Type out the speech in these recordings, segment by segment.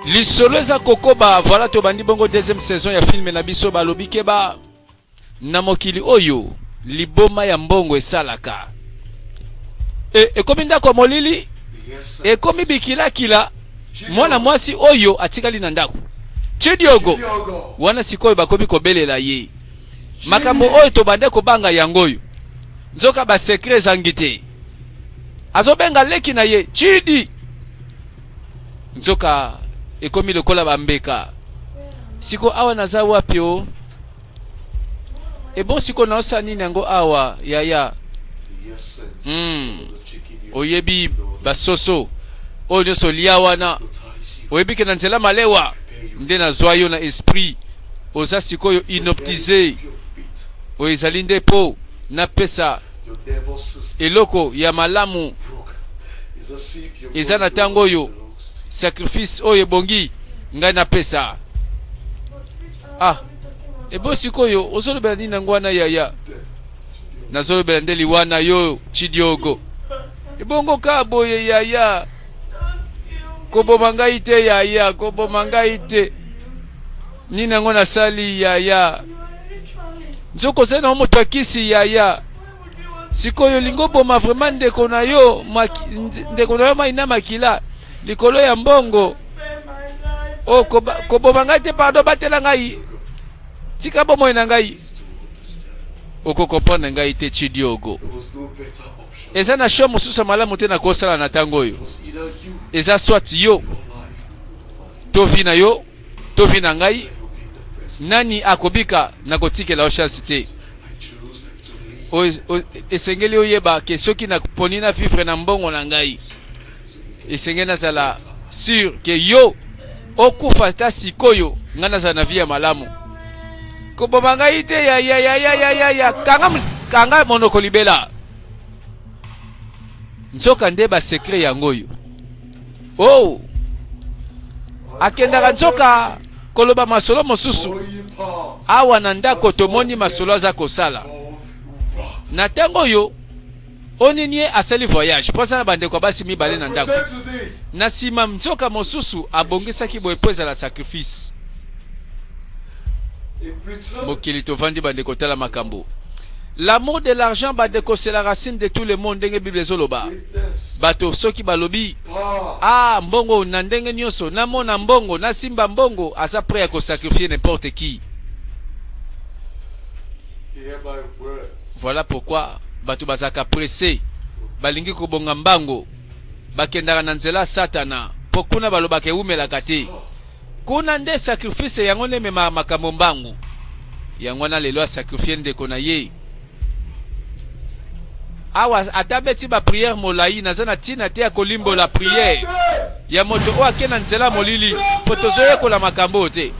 lisolo eza kokoba voilà tobandi bongo deuxième saison ya filme na biso balobi keba na mokili oyo liboma ya mbongo esalaka e, ekomi ndako ya molili ekomi bikilakila mwana mwasi oyo atikali na ndako chidiogo wana sikoyo bakomi kobelela ye makambo oyo tobande kobanga yango oyo nzoka basekre ezangi te azobenga leki na ye chidi nzoka ekomi lokola bambeka siko awa naza wapi o ebo siko naosa nini yango awa yaya mm. oyebi basoso oyo nyonso olia wana oyebi ke na nzela malewa nde nazwa yo na esprit oza sikoyo inoptise oyo ezali nde mpo napesa eloko ya malamu eza na ntango oyo sacrifice oyo ebongi ngai napesa ah ebo sikoyo ozolobela nini yango wana yaya nazolobela nde liwa na yo chidiogo ebongo ka boye yaya koboma ngai te yaya koboma ngai te Nini yango nasali yaya? Nzoko ozali na moto ya kisi yaya. Sikoyo olingi oboma vraiment ndeko na yo ndeko na yo mai na makila likolo ya mbongo. O oh, koboma ngai te pardon, batela ngai. Tika bomoi na ngai. okokomprendre ngai te chidiogo eza na show mosusu ya malamu te nakosala na ntango oyo eza swat yo to vi na yo to vie na ngai nani akobika na kotikela yo chance te esengeli oyeba ke soki naponi na vivre na mbongo na ngai esengeli nazala sur ke yo okufa ata sikoyo ngai nazala na vie ya malamu koboma ngai te ya ya ya ya ya ya ya kanga kanga monoko libela nzoka nde ba secret yango oyo oh akendaka nzoka koloba masolo mosusu awa na ndako tomoni masolo aza kosala na ntango oyo oninie asali voyage mpo aza na bandeko ya basi mibale na ndako na nsima nzoka mosusu abongisaki boye mpo ezala sacrifice Mokili tovandi bandeko tala makambo. L'amour de l'argent bandeko c'est la racine de tout le monde ndenge Bible ezoloba. Bato soki balobi ah mbongo na ndenge nyonso namona mbongo nasimba mbongo aza prêt ya kosacrifier n'importe qui. Voilà pourquoi bato bazalaka presse balingi kobonga mbango bakendaka na nzela satana mpo kuna balobaka ewumelaka te. Kuna nde sacrifice yango nde ememaka makambo mbangu. Yango wana lelo a sacrifier ndeko na ye. Awa ata abeti ba prière molayi naza na tina te ya kolimbola prière ya moto oyo ake na nzela molili po tozoyekola makambo oyo te.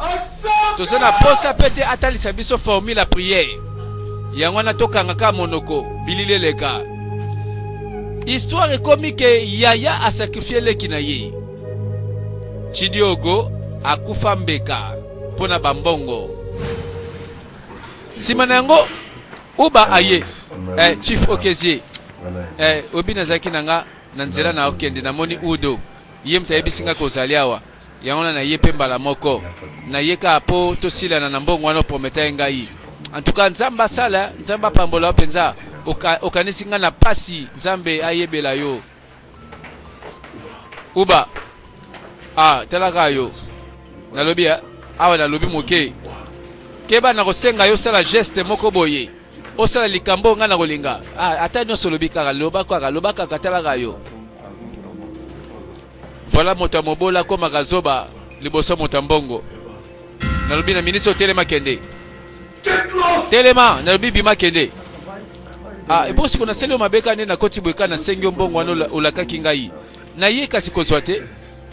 Toza na posa pe te atalisa biso formule ya prière. Yango wana tokanga ka monoko bilili eleka. Histoire ekomi ke yaya a sacrifier leki na ye. Tshidiogo akufa mbeka mpo na bambongo. Nsima na yango, Uba aye. Eh, Chief Okezie, eh, obi nazalaki na nga na nzela na okende, namoni Udo ye moto ayebisi nga kozali awa yango wana naye mpe mbala moko naye kaka mpo tosilana na mbongo wana oprometa ye ngai en tout cas nzambe asala nzambe apambola yo mpenza okanisi ngai na mpasi nzambe ayebela yo uba ah talaka yo nalobi ya awa nalobi moke keba nakosenga yo osala geste moko boye osala likambo ngai nakolinga ah, ata nyonso olobi kaka loba kaka loba kaka talaka yo voilà moto ya mobola akomaka zoba liboso moto ya mbongo nalobi na ministre otelema kende telema nalobi bima kende ah, epo siko nasali yo mabe kani nakoti boye kani nasengi yo mbongo wana olakaki ngai na ye kasi kozwa te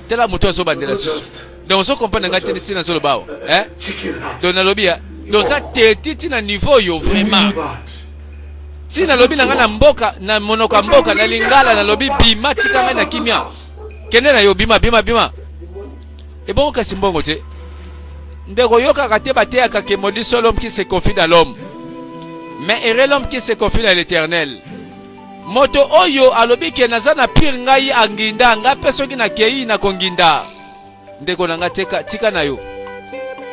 tala moto azobandela susu donc ozo comprendre ngai te ntina nazoloba awa eh? donc nalobi ya donc oza teti ntina niveau oyo vraiment ti nalobi na ngai na mboka na monoko ya mboka na lingala nalobi bima tika ngai na kimia kende na yo bima bima bima Ebongo kasi mbongo te. Ndeko yokaka te bateyaka que maudit soit l'homme qui se confie dans l'homme. Mais heureux l'homme qui se confie dans l'éternel. Moto oyo alobi ke naza na pire ngai anginda nga pe soki na kei na konginda. Ndeko na nga teka tika na yo.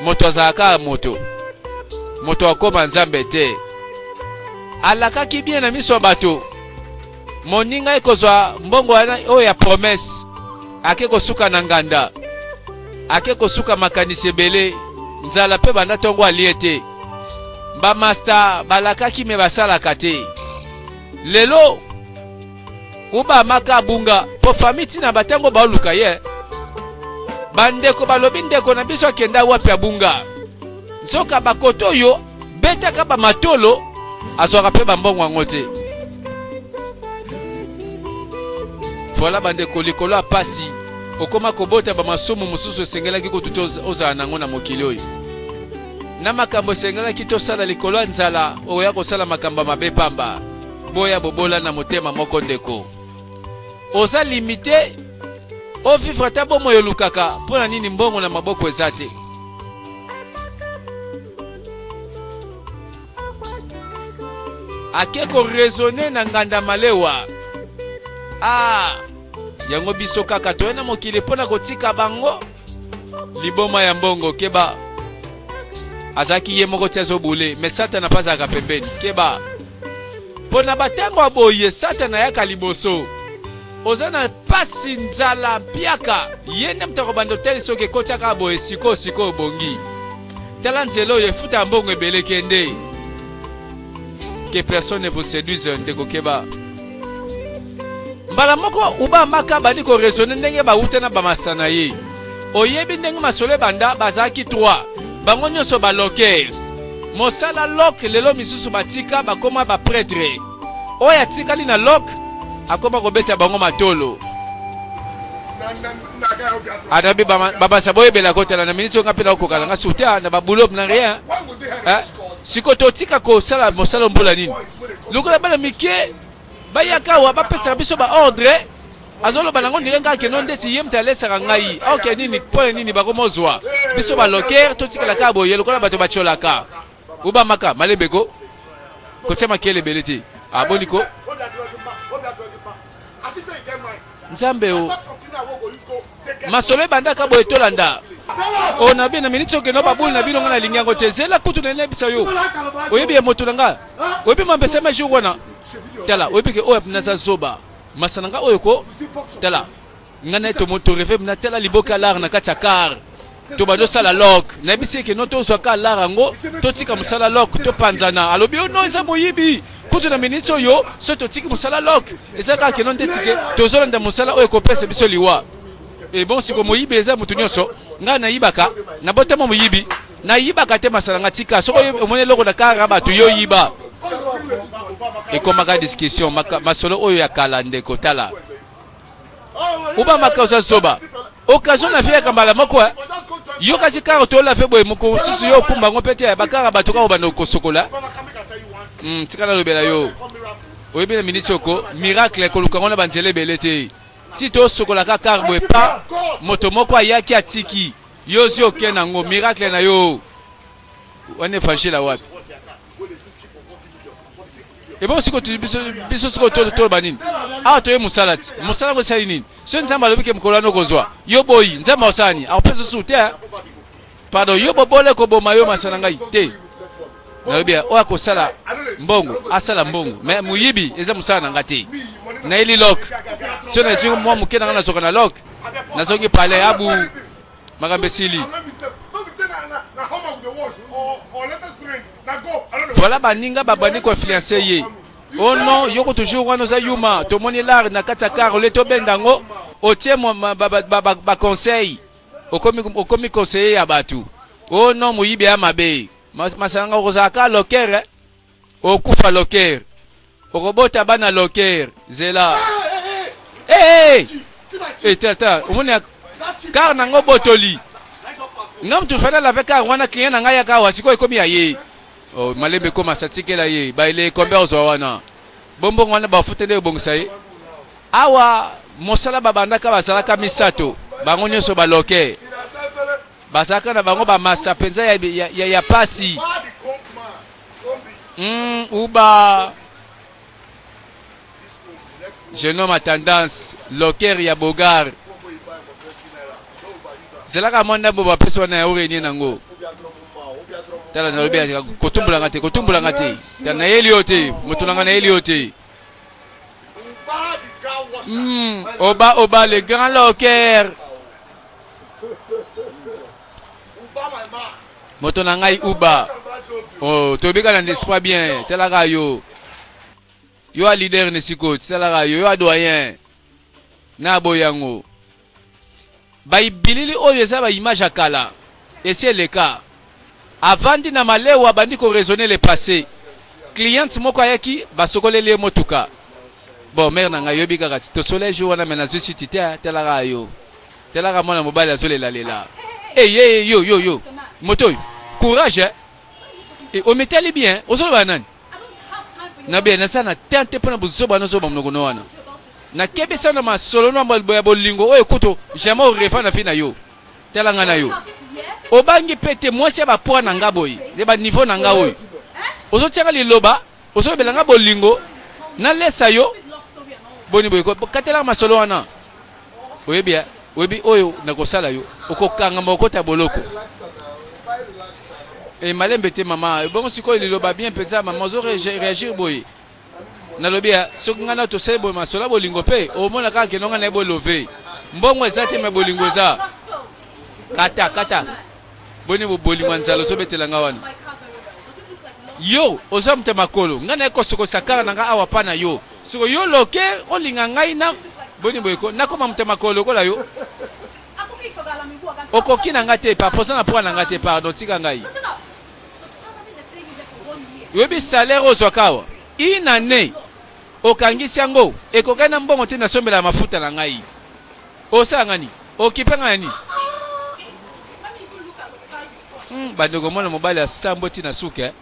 Moto azalaka moto. Moto akoma nzambe te. Alakaki bien na miso ya bato. moninga ye kozwa mbongo wana oyo ya promese ake kosuka na nganda ake kosuka makanisi ebele nzala mpe banda ntongo alie te bamasta balakaki me basalaka te lelo ubamaka abunga mpo fami ntina batango baoluka ye bandeko balobi ndeko na biso akenda wapi abunga nzoka bakoto oyo betaka ba matolo azwaka pe ba mbongo yango te voilà bandeko likolo ya pasi okoma kobota ba masumu mosusu esengelaki kutu te ozala nango na mokili oyo na makambo esengelaki tosala likolo ya nzala okoya kosala makambo ya mabe pamba boya bobola na motema moko ndeko oza limite ovivre ata bomoi olukaka mpo na nini mbongo na maboko eza te ake koresone na nganda malewa ah, yango biso kaka toye na mokili mpo na kotika bango liboma ya mbongo keba azalaki ye moko ti azobule me satana mpe azalaka pembeni keba mpo na batango ya boye satana ayaka liboso Oza na pasi nzala mpiaka ye nde moto akobanda otali soki ekotaka boye sikoyo sikoyo bongi tala nzela oyo efuta mbongo ebele kende que personne ne vous séduise ndeko keba mbala moko uba maka bandi koresone ndenge bawuta na bamasta na ye oyebi ndenge masolo ebanda bazalaki 3 bango nyonso baloke mosala loke lelo misusu batika bakoma bapretre Oyo atikali na lok akoma kobeta bango matolo. Adabi babasa boyebela kotala na minute nga mpe nakokala nga suta na baboulop na rien eh, siko totika kosala mosala mbula nini lokola bana mike bayaka awa bapesaka biso baordre azoloba nango ndenge ngai akeno ndeti ye moto alesaka ngai oke nini mpo na nini bakomozwa biso baloker totikala kaka boye lokola bato batyolaka obamaka malebe ko kotya makele ebele te aboni ah, ko nzambe o masolo ebandaka boye tolanda oyo na bino na miniti okende na babuli na bino ngai nalingi yango te zela kutu na nayebisa yo oyebi ya moto na ngai oyebi mambesa ma jour wana tala oyebi ke oyo naza zoba masana ngai oyo ko tala nga na ye tomo to reve na tala liboka lar na kati ya car to bazo sala lok nayebisi eke no tozwa ka lar yango totika mosala lok topanzana alobi yo oh no eza moyibi kutu na miniti oyo soki totiki mosala lok eza kaka keno ndeti ke tozolanda mosala oyo ekopesa biso liwa ebon siko moyibi eza motu nyonso ngai nayibaka nabotama moyibi nayibaka te masala nga tika soki omoni eloko na kara bato yo yiba ekomaka discussion masolo oyo ya kala ndeko tala obamaka oza zoba occasion na vie ya kambala moko eh. yo kasi kaka toyola mpe boye mokolo mosusu yo okumba yango mpe te bakaka bato kaka obanda kosokola hmm, tika nalobela yo oyebi na miniti oko miracle koluka yango na banzela ebele te ti tosokola kaka kar boye pa moto moko ayaki atiki yo ozi oke na yango miracle na yo wana evangile wapi ebongo siko biso siko toloba nini awa toye mosala ti mosala yango esali nini soki nzambe alobi ke mokolo wana okozwa yo boyi nzambe akosala nini akopesa susu te eh? pardon yo bobole koboma yo masana ngai te nalobi oyo akosala mbongo asala mbongo me moyibi eza mosala na ngai te nayeli lok so nazwi mwa moke na ngai nazoka na lok nazongi pale abu makambo esili. Voilà baninga babandi ko influencer ye. Oh non, yoko toujours wana oza yuma. Tomoni lar na kati ya car ole tobenda yango otie ba conseil okomi okomi conseiller ya bato. Oh non, moyibi ya mabe. Masanga kozala ka locker. Eh? okufa loker okobota bana loker zela hey, hey, tata omoni kar nango botoli nga mutu fana lave kar wana client na ngai yaka awa sikoyo ekomi ya ye oh, malembe ekoma satikela ye baile ekombe ozwa wana bombongo wana bafuteli ebongisa ye awa mosala babandaka bazalaka misato bango nyonso baloke bazalaka na bango bamasa mpenza ya, ya, ya, ya pasi Mm, uba jeune homme à tendance loker ya bogar zelaka mwa ndambo bapesi wana ya orenie nango tala nalobi kotumbolanga te kotumbolanga te tala nayeli yo te moto nanga nayeli yo te mm, oba oba le grand loker moto na ngai uba oh, toyebi kaka na ndespa bien talaka yo yo a leader nesiko talaka yo yo a doyen na boye yango baibilili oyo eza baimage ya kala esi eleka avandi na malewa abandi koraisonne le passé cliente moko ayaki basokoleli ye motuka bon mare na ngai yoyebi kaka ti tosolai jour wana me nazwi siti te talaka yo Talaka mwana mobali azolela lela. Eh ye ye yo yo yo. Moto oyo. Courage. Eh. Et eh, ometali bien. Ozoloba nani? Na bien na sana tente pona bozoba na zoba mnoko no wana. Na kebe sana masolo na mbalbo ya bolingo oyo kuto jamais orefa na fina yo. Talanga na yo. Obangi pete mwasi ya ba poids na nga boye. Ne ba niveau na nga oyo. Ozotiaka liloba ozolobela nga bolingo nalesa yo boni boye katelaka masolo wana oyebi ya oyebi oyo nakosala yo okokangama okota boloko e malembe te mama ebongo sikoyo liloba bien mpenza mama ozo réagir boye nalobi ya soki ngai na tosali boye masolo ya bolingo mpe omona kaka keno ngai na ye bolove mbongo eza te me bolingo eza kata kata boni boboli mwa nzala ozobetela nga wana yo oza moto ya makolo ngai naye kosokosa kala na ngai awa pa na yo soko yo loke olinga ngai na boni boyeko nakoma moto ya makolo lokola yo okoki na ngai te pa poza na poa na ngai te pardon tika ngai oyebi salaire ozwaka awa inane okangisi yango ekokani na mbongo te nasombela mafuta na ngai Osala nga nini? Okipe nga na nini? Hmm, bandeko mwana mobali ya sambo ti na suka eh?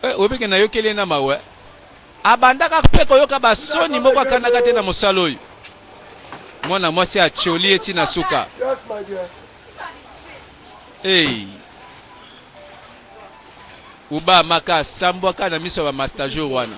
eh, oyebike nayokeli ye na mawa eh? abandaka mpe koyoka basoni moko akandaka te na mosala oyo mwana mwasi atyoli ye ti na suka hey. uba maka asambwaka na miso ya bamastajour wana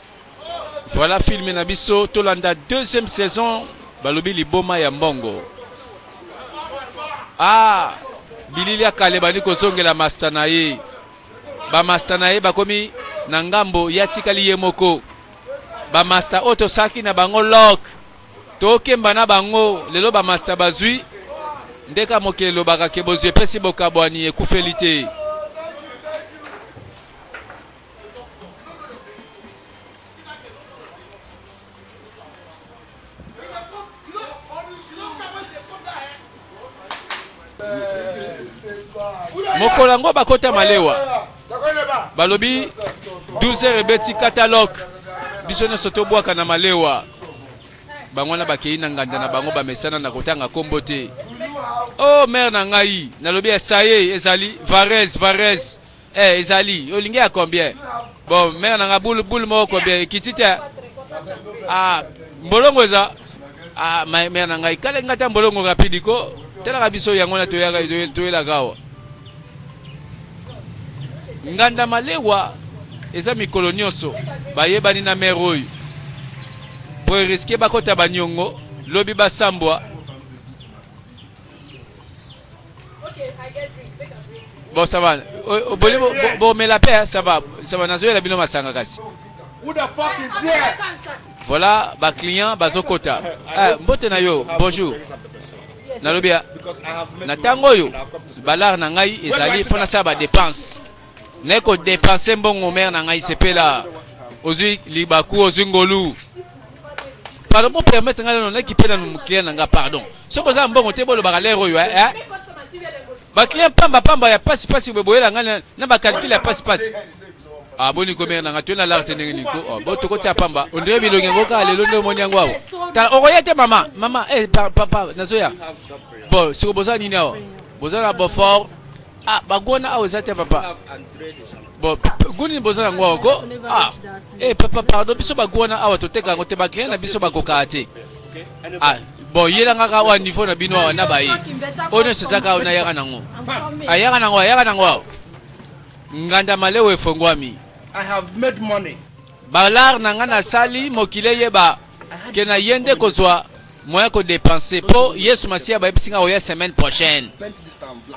Voilà film na biso tolanda deuxième saison balobi liboma ya mbongo. Ah bilili ya kale bandi kozongela masta na ye bamasta na ye bakomi na ngambo ye atikali ye moko bamasta oyo tosalaki na bango lok tokemba na bango lelo bamasta bazwi ndeka mokili elobaka ke bozwi epesi bokabwani ekufeli te mokolo yango bakota malewa balobi 12 heures ebeti catalogue biso nyonso tobwaka na malewa bango wana bakei na nganda na bango bamesana na kotanga nkombo te o oh, mare na ngai nalobi esaye ezali varese varese Eh, ezali olingi ya combien? Bon, mère nanga boule boule moko combien ekiti te. Ah, mbolongo eza ah ma mère nanga ikale ngata mbolongo rapide ko telaka biso yango na toyaka toyelaka awa. Nganda malewa eza mikolo nyonso bayebani na mère oyo. Po risque bakota banyongo lobi basambwa Bon, ça va. Bon, mais la paix, ça va. Ça va, nazo la bino masanga kasi. Voilà, ba client, ba zokota. Eh, mbote na yo, bonjour. Nalobi na tango yo, balar na ngai ezali pona sa ba dépense. Naye ko depenser mbongo mère na ngai sepela. Ozui libaku, ozui ngolu. Pardon, pour permettre ngai na naki pena no client na nga pardon. Soko za mbongo te bolo baka lero yo eh. eh? Ba client pamba pamba ya pasi pasi bo boyela ngai na ba calcul ya pasi pasi. Ah boni ko mère na nga tuna l'art ndenge ni ko. Oh, bo to ko tia pamba. On dirait bilongi ngo ka lelo ndo moni yango awo. Ta okoyete mama, mama eh papa nazoya. Bon, soko boza nini awo? Boza na Beaufort Ah, bagona awa eza te papa. Bon, guni boza na ngwa ko. Ah. Eh papa pardon biso bagona awa toteka yango te ba client na biso bakoka te. Ah, bon yelanga ka wa niveau na bino awa na baye. Ono sezaka ona yaka nango. Ayaka ah, nango, ayaka ah, nango. Nganda malewe efongwami. I have made money. Balar na nga nasali mokile yeba ke na yende kozwa moyen ko depenser po Yesu Masiya bayebisi nga oya semaine prochaine.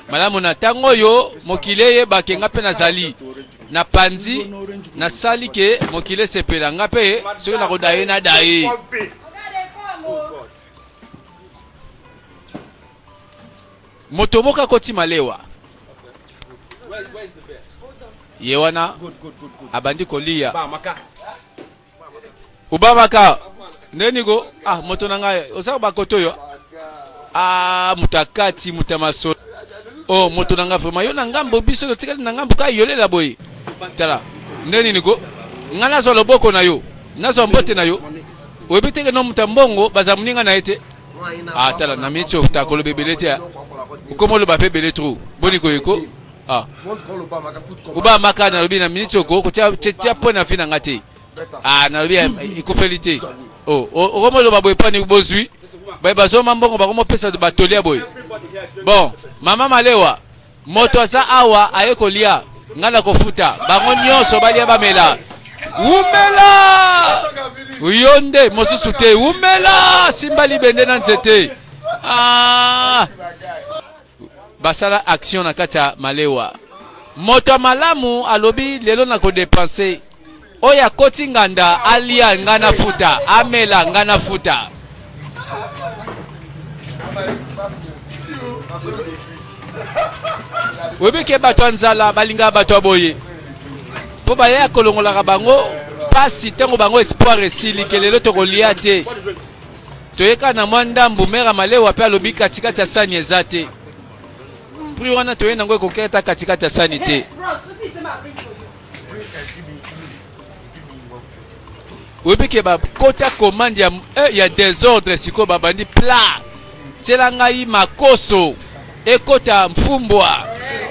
Malamu na tango oyo mokili eyeba ke nga pe nazali na panzi nasali ke mokili esepela nga pe soki nakodaye nadaye. Moto moko akoti malewa ye wana abandi koliya Obamaka nde niko ah moto na ngai oza bakoto yo ah moto ya kati moto ya masolo oh moto na ngai vraiment yo na ngambo biso totikali na ngambo kaka yolela boye tala nde nini ko ngai nazwa loboko na yo nazwa mbote na yo oyebi teke no moto ya mbongo bazala moninga na ye te ah tala na miniti oyo takoloba ebele te ah. okomoloba mpe ebele tro boni koyeko Ah. Oba maka nalobi na minute oko kotia tia point na vie na nga te. Ah nalobi ekufeli te. Oh, okomo loba boye pani bozui. Baye bazoma mbongo bakomo pesa ba tolia boye. Bon, mama malewa moto aza awa aye kolia ngai nakofuta bango nyonso balia bamela wumela yo nde mosusu te wumela simba libende na nzete ah. Basala action na kati ya malewa. Moto ya malamu alobi lelo na ko depense. Oyo akoti nganda alia nga na futa, amela nga na futa. Oyebi ke bato ya nzala balingaka bato ya boye mpo baya kolongolaka bango pasi ntango bango espoir esili ke lelo tokolia te. Toye kaka na mwa ndambo, mère ya malewa pe alobi kati kati ya sani eza te. Prix wana toye nango ekoki ata kati kati ya sani te. Oyebi ke ba kota commande ya, eh, ya desordre sikoyo babandi plat. Tiela ngai makoso. ekota mfumbwa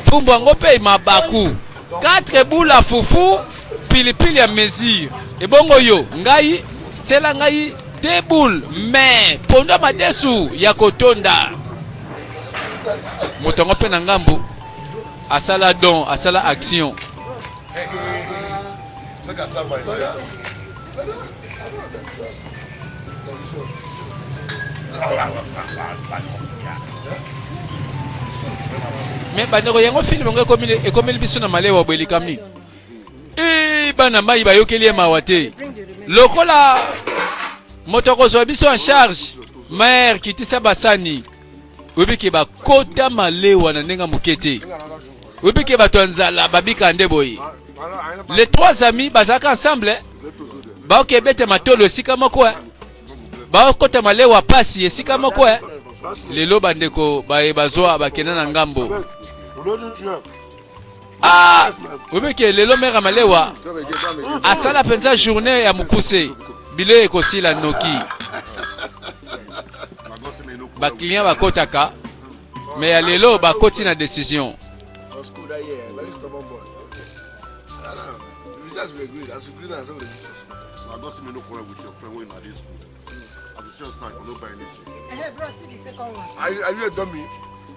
mfumbwa yango mpe mabaku 4 bula fufu pilipili ya mesure ebongo yo ngai sela ngai de boule me pondu ya madesu ya kotonda moto yango mpe na ngambu asala don asala action me bandeko yango filme yango ekomeli biso na malewa boye likambi ee bana mai bayokeli ye mawa te lokola moto akozwa biso en charge mare kitisa basani oyebi ke bakota malewa na ndenge moke te oyebi ke bato ya nzala babikaka nde boye les trois amis bazalaka ensemble baoke ebete matolo esika moko eh. bakota malewa pasi esika moko eh. lelo bandeko baye bazwa bakenda na ngambo Ah, oyebi ke lelo mère malewa asala mpenza journée ya mokuse bilei ekosila noki baclient bakotaka me ya lelo bakoti na décision Are you, are you a dummy?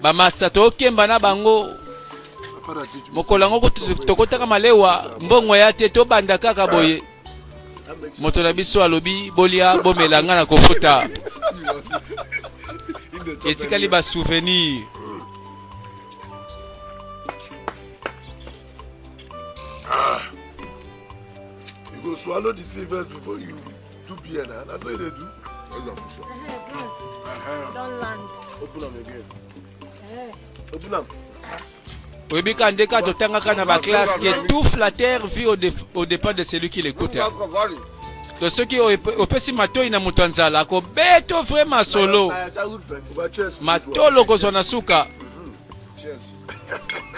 bamasta tokemba na bango mokolo yango tokotaka malewa mbongo ya te tobanda kaka boye moto na biso alobi bolia bomela ngai na kokota etikali basouvenir ah. You go swallow the three verse before you Tout bien, hein? La soirée de tout. Elle a poussé. Don't land. Open up again. Open up. oyebi ka nde ka totangaka na baklasse ke tout flatteur vit au, def, au départ de celui qui l'écoute to soki opesi matoi na moto ya nzala akobeto vrai masolo matolo kozwa na suka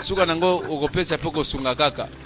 suka na yango okopesa mpe kosunga kaka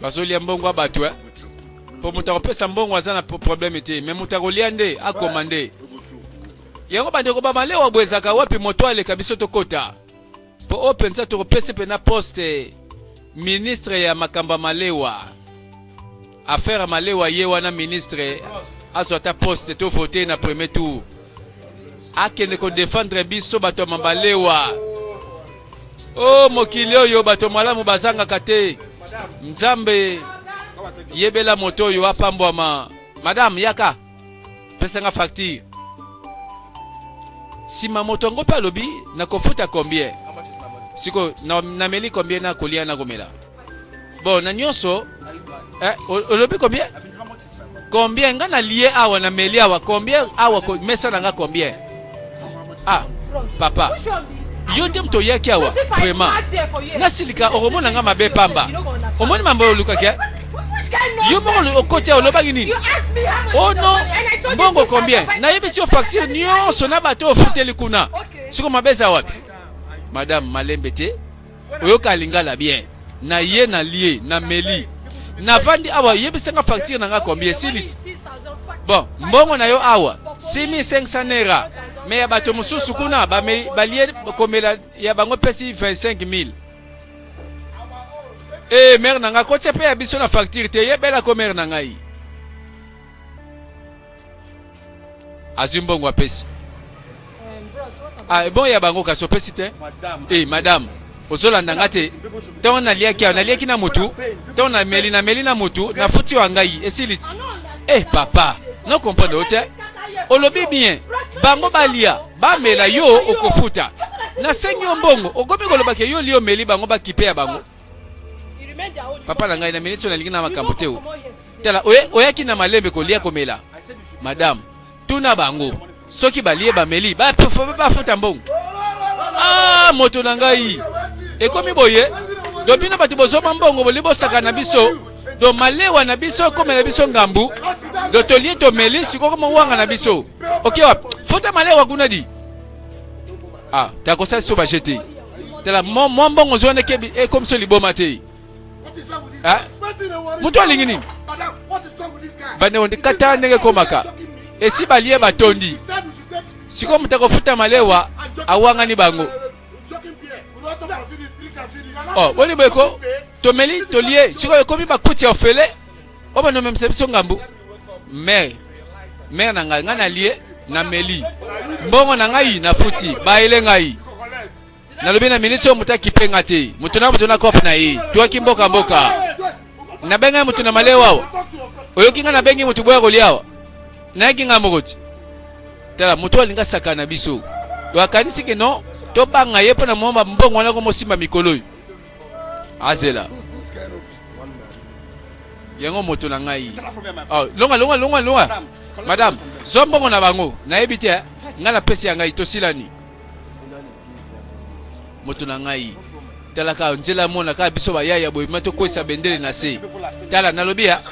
bazolia mbongo ya bato eh? mpo moto akopesa mbongo aza na probleme te me moto akolia nde akoma nde yango bandeko bamalewa bo ezalaka wapi moto aleka biso tokota mpo oyo mpenza tokopesi mpena poste ministre ya makambo ya malewa affaire ya malewa ye wana ministre azwa ata poste to vote na premier tour akende ko defendre biso bato ya mabalewa o oh, mokili oyo bato malamu bazangaka te nzambe yebela moto oyo apambwama madame yaka pesanga facture nsima moto yango mpe alobi nakofuta combien siko nameli combien nakolia nakomela bon na nyonso eh, olobi combien Combien nga na lie awa na meli awa combien awa ko mesa na nga combien? Ah papa yo te moto oyaki awa vraiment nasilika okomona nga mabe pamba omoni mambo oyo olukaki eh? yo moko okoti awa olobaki nini oh no mbongo combien nayebisi yo facture nyonso na bato ofuteli kuna siko mabe eza wapi madame malembe te oyoka lingala bien na ye na lie na meli na vandi awa yebisa nga facture na nga combien esiliti bon mbongo na yo awa 6500 naira me ya bato mosusu kuna balie komela ya bango pesi 25000 ee mere na ngai kotia mpe ya biso na facture te yebela ko mere na ngai azwi mbongo apesi ah, ebongo ya bango kasi opesi te e madame ozolanda nga te ntango naliaki awa naliaki na motu ntango nameli nameli na motu nafuti wa ngai esili ti e eh, papa no comprendre yo te olobi bien bango balia bamela yo okofuta nasengi yo mbongo okomi kolobaka yo liomeli bango bakipe ya bango papa na ngai na miniti oyo nalingi na makambo te tala oyaki na malembe kolia komela madame tuna bango soki balie bameli bafuta mbongo ah, moto na ngai ekomi boye do bino bato bozoma mbongo boli bosaka na biso do malewa na biso ekomela biso ngambu do tolie tomeli sikoko mowanga na biso oke wapi fota malewa kuna di ah ta kosala so ba jete tala mo mo mbongo zone ke bi e comme so liboma te ah mutu alingi nini bande on kata ndenge komaka esi balie batondi sikoyo moto akofuta malewa awangani bango oh boni boye ko tomeli tolie sikoyo ekomi bakuti ya ofele oyo bando omemisa biso ngambu mere mere na ngai ngai nalie na meli mbongo na ngai nafuti bayele ngai nalobi na miniti oyo moto akipe nga te moto na moto na kope na ye twaki mboka mboka nabengi ngai moto na malewa awa oyoki ngai nabengi moto boya kolia awa nayaki ngai moko te tala moto oyo alingi asaka na biso oyo akanisi ke non tobanga ye mpo na mwa mbongo wana komosimba mikolo oyo azela yango moto na ngai oh, longa longa longa longa madame zwa mbongo na bango nayebi te eh. ngai napesi ya ngai tosilani moto na ngai talaka nzela mona kaka biso bayaya boye ma tokwesa bendele na se tala nalobi ya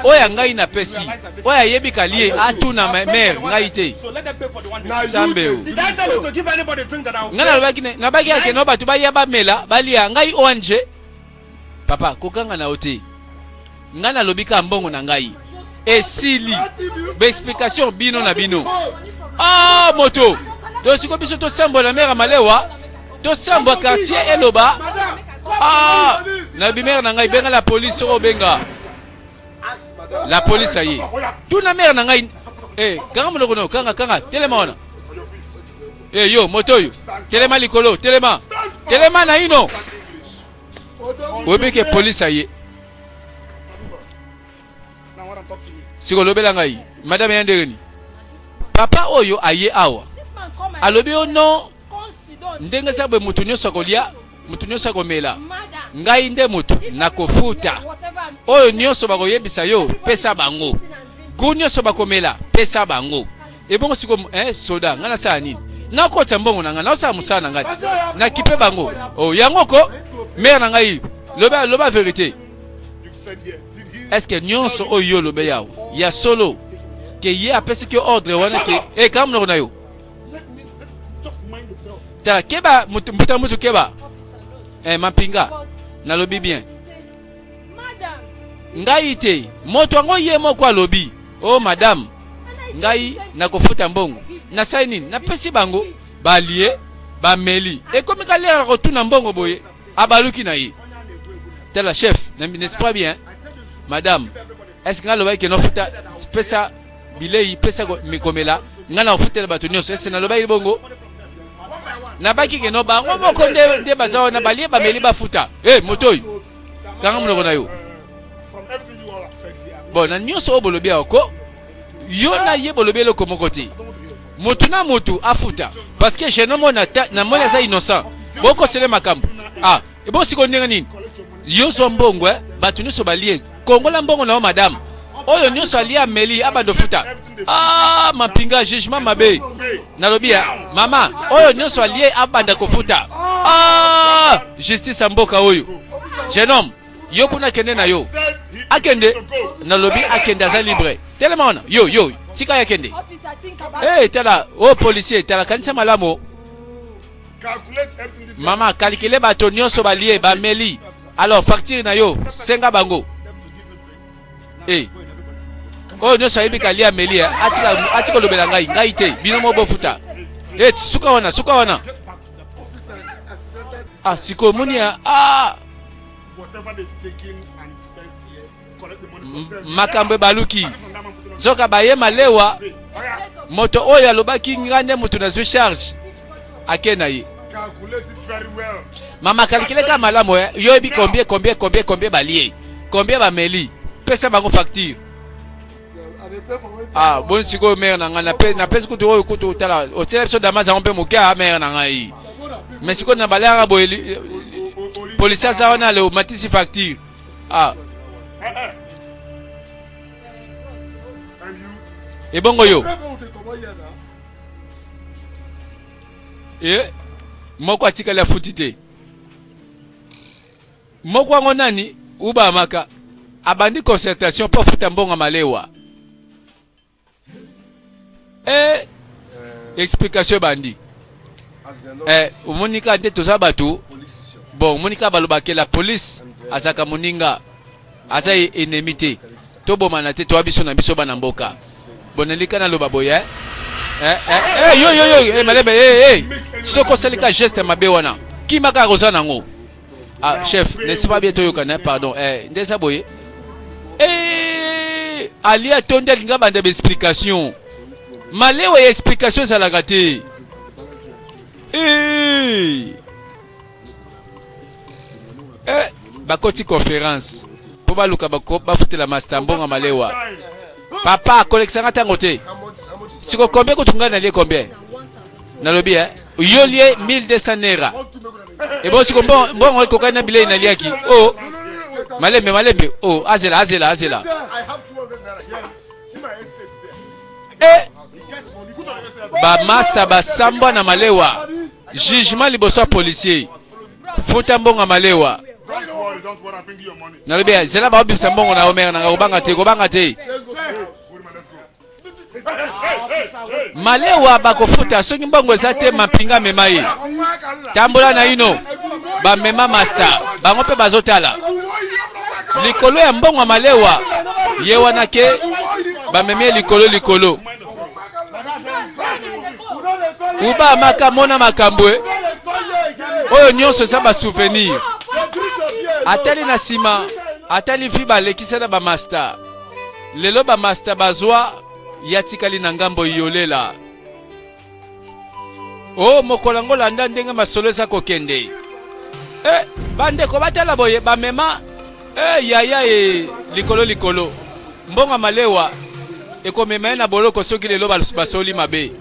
oyo ya ngai napesi oyo ayebi kalie atuna mare ngai te nzambe o ngai nalobaki nabaki yake no bato baya bamela balia ngai ong papa kokanga na yo te ngai nalobi ka mbongo na ngai esili baexplication bino na bino ah moto tosiko biso tosembola mare malewa tosambwa quartier eloba ah, na bimere na ngai benga la police soko obenga la police aye tuna mere na ngai eh, kanga monoko no kanga kanga telema wana eh, yo moto oyo telema likolo telema telema naino oyebi ke polisi aye siko lobela ngai madame ya ndenge nini papa oyo aye awa alobi yo no ndenge sabwe moto nyonso akolya moto nyonso akomela ngai nde moto nakofuta oyo nyonso bakoyebisa yo pesa bango gu nyonso bakomela pesa bango ebongo siko eh, soda ngai nasala nini nakotisa mbongo na ngai naosala mosala na ngai ti nakipe bango oh, yango ko mare na ngai loba, loba verité est ce que nyonso oyo yo olobe yawe ya solo ke ye apesi ki ordre wana ke eka eh, monoko na yo tala keba mbuta mutu keba eh, mampinga nalobi bien ngai te moto yango ye moko alobi o oh, madame ngai nakofuta mbongo nasali nini napesi bango balie bameli ekomi kalera kotuna mbongo boye abaluki na ye tala chef na n'est pas bien madame est ce que nalobaki ke nafuta pesa bilei pesa mikomela ngai nakofutela bato nyonso ese nalobaki bongo nabaki keno bango moko nde baza wana balie bameli bafuta e eh, moto oyo kanga monoko na yo bon na nyonso oyo bolobi awa ko yo na ye bolobi eloko moko te motu na motu afuta parce que jeune homme na na moni aza innocent boko sele makambo ah ebo siko ndenge nini yo zwa mbongo eh bato nyonso balie kongola mbongo na yo madame oyo nyonso alie ameli abando futa ah mampinga jugement mabe nalobi ya ah, mama oyo nyonso alie abanda kofuta ah justice ya mboka oyo jeune homme yo kuna kende na yo akende nalobi akende aza libre telema wana yo yo tika ya kende hey, eh, tala o oh, policier tala kanisa malamu mama kalikile bato nyonso balie bameli alors facture na yo senga bango hey. Eh. oyo oh, nyonso ayebi kalia ameli eh. atika olobela ngai ngai te bino mo bofuta hey, eh, suka wana suka wana Ah, sikoyo moni ya ah! makambo ebaluki nzoka baye malewa moto oyo alobaki ngai nde moto nazwi charge ake na ye mama kalikile kaka malamu eh? yo oyebi combien combien combien combien balie combien bameli pesa bango facture ah boni sikoyo mere na ngai napesi kutu oyo kutu otala otyela biso damas yango mpe moke a ah, mere na ngai me sikoyo na baleyaka boye polisi aza wana leo matisi facture ah ebongo yo e moko atikali afuti te Moko yango nani? Uba Amaka abandi concertation mpo afuta mbongo ya malewa. Eh, explication ebandi. Eh, omoni kaka nde toza bato bon, omoni kaka balobake la police azalaka moninga, aza e- ennemi te, tobomana te, toya biso na biso bana mboka. Bonelika naloba boye eh? Eh, eh, eh, yo yo yo eh, malembe eh, eh. Soki osali ka geste mabe wana kima kaka oza nango ah chef nesi mabe toyokana pardon eh, nde eza boye eh, alia tondi alinga banda baexplication malewa ya explication ezalaka te eh. eh, bakoti conférence mpo baluka bafutela masta mbongo malewa papa akolekisanga ntango te sikokombe kutu ngai nalie kombe nalobi eh? yo lie 1200 naira ebosi ko mbongo ekokani na bilei naliaki o oh. malembe malembe o oh, azela azela azela eh! bamasta basambwa na malewa jugement liboso ya policier futa mbongo ya malewa nalobi zela baobimisa mbongo na yo mere nanga kobanga te kobanga te malewa bakofuta soki mbongo eza te mampinga amema ye tambola na ino bamema masta bango mpe bazotala likolo ya mbongo ya malewa ye wana ke bamemi ye likolo likolo uba amaka mona makambo e oyo nyonso eza basouvenir atali na nsima atali vi balekisa na bamasta Lelo ba masta bazwa ya tikali na ngambo yolela. Oh mokola ngo landa ndenge masolo eza kokende. Eh bandeko batala boye bamema eh yaya e likolo likolo mbonga malewa ekomema ye na boloko soki lelo basoli mabe.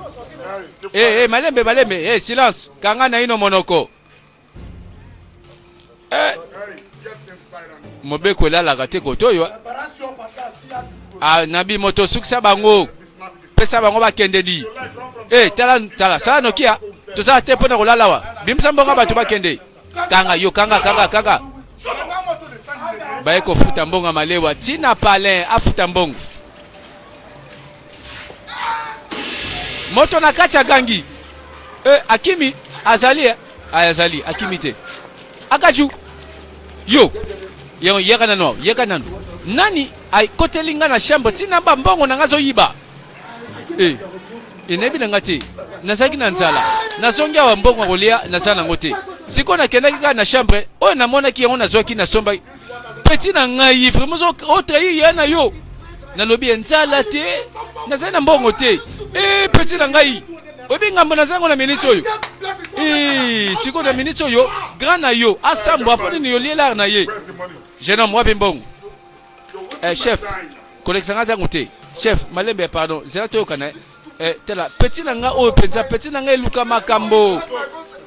Eh eh malembe malembe eh silence kanga naino monoko. eh. mobeko elalaka te kotoyo ah, nabi moto osukisa bango pesa bango bakende di eh, tala tala sala nokia tozala te mpo na kolala wa bimisa mbongo bato bakende kanga yo kanga kanga kanga baye kofuta mbongo ya malewa ntina palin afuta mbongo moto na kati agangi eh, akimi azali eh? aya azali akimi te akaju yo yango yaka nanu awa yaka nanu nani akoteli nga na chambre ntina ba mbongo na nga azoyiba eh, enayebi na nga te nazalaki na nzala nazongi awa mbongo ya kolia naza nango te sikoyo nakendaki kaka na chambre oyo namonaki yango nazwaki nasombaki petit na ngai vraiment o trahir ya na yo nalobi enzala te nazali na mbongo te e petit na ngai oyebi ngambo naza yango na miniti oyo eh, sikoyo na miniti oyo grand na yo asambwa mpo nini yo lielare na ye jeune homme wapi mbongo eh, chef kolekisa ngai ntango te chef malembe pardon zela toyokana Eh, tela petit na nga oyo penza petit na nga eluka makambo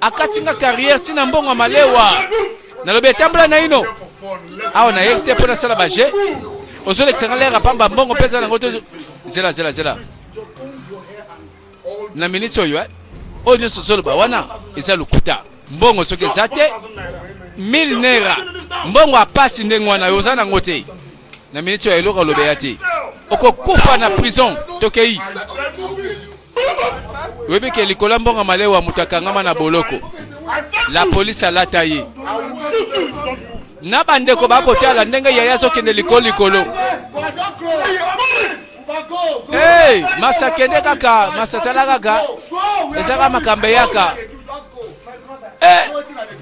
akati nga carrière tina mbongo malewa nalobi etambola naino awa na ye te mpo nasala baje ozolekisa nga lere apamba mbongo mpe eza nango to zela zela zela na miniti oyo eh? oyo nyonso ozoloba wana eza lokuta mbongo soki eza te mille nera mbongo apasi ndenge wana yo oza nango te na minute oyo eloko alobe ya te okokufa na prison tokei oyebi ke likola mbongo malewa moto akangama na boloko la polisi alata ye na bandeko bakotala ndenge yaya azokende likolo likolo hey, masa kende kaka masa tala kaka ezaka makambo eyaka hey, eh,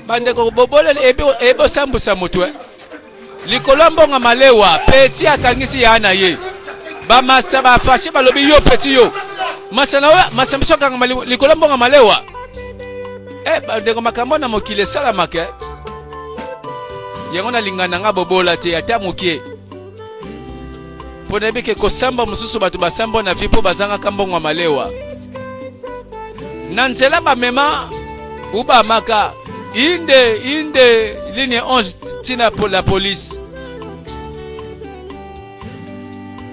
bandeko boboleli ebosambusa moto eh. Likolo ya mbongo ya malewa, Petit asangisi yaya na ye. Ba masta ba fache balobi yo Petit yo. Masta na yo, masta biso akangama li- likolo ya mbongo ya malewa. Eh, ba ndeko makambo na mokili esalamaka. eh. Yango nalingana nga bobola te ata mokie. mpo nayebi ke kosamba mosusu bato basambwa na vi mpo bazangaka mbongo ya malewa na nzela bamema ubamaka inde inde ligne 11 ntina po la polise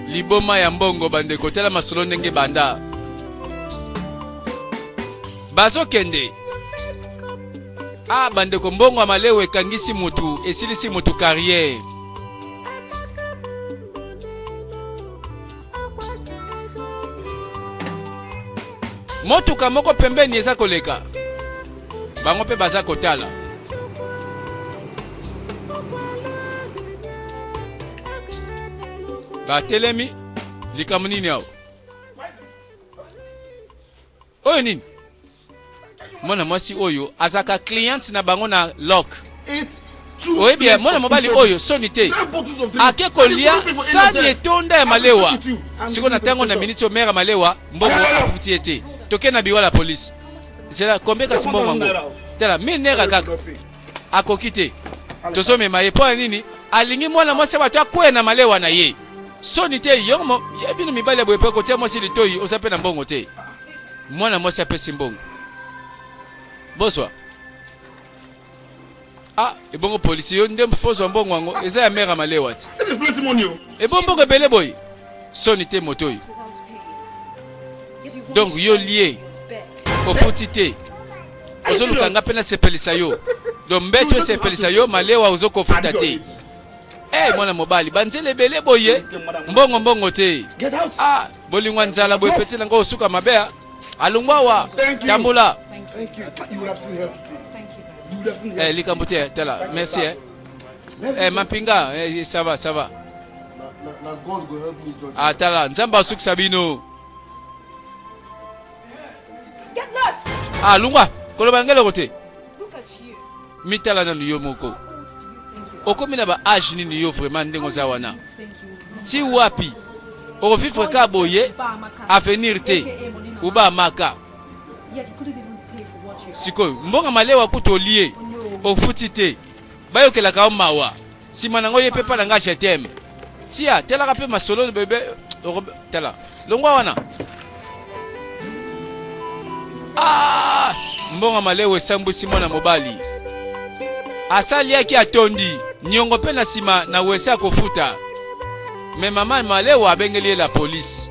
liboma ya mbongo bandeko tala masolo ndenge banda bazokende ah bandeko mbongo ya malewa ekangisi motu esilisi motu carrière motuka moko pembeni eza koleka bango mpe baza kotala batelemi likambo nini awa oyo nini mwana mwasi oyo azalaka cliente na bango na lok oyebi ya mwana mobali oyo soni te ake kolia sani etonda ya malewa siko na ntango na miniti oyo mere malewa mbongo akuti ye te toke na biwa la polisi zela kombe kasi mbongo yango tala minera kaka akoki te tozomema ye mpo ya nini alingi mwana mwasi ya bato akwea na malewa na ye soni te yo bino mibali ya boye mpe kotia mwasi litoi oza mpe na mbongo te mwana mwasi apesi mbongo bozwa ah ebongo polisi yo nde fozwa mbongo yango eza ya mera malewa ti ebo mbongo ebele boye soni te moto oyo donc yo lie ofuti te ozoluka nga mpe nasepelisa yo donc mbeto esepelisa yo malewa ozokofuta te Hey, eh, mwana mobali banzela ebele boye mbongo mbongo te ah. Bolingo ya nzala boye petit na ngai osuka mabe a alongwa wa tambola. Eh, likambo te tala merci eh. Eh, mampinga eh, ça va ça va. Ah tala nzambe asukisa bino. Ah lungwa koloba ngeloko te. mitala nanu yo moko okomi na ba age nini yo vraiment ndenge oza wana ti wapi okovivre ka boye avenir te uba maka sikoyo mbonga malewa kutu olie ofuti te bayokelaka yo mawa sima na ngo ye pe pa na nga je t'aime tia telaka pe masolo bebe tala longwa wana ah! mbongo malewe esambwisi mwana mobali asaliaki atondi niongo mpe na nsima na wese akofuta me mama malewa abengeli ye la polisi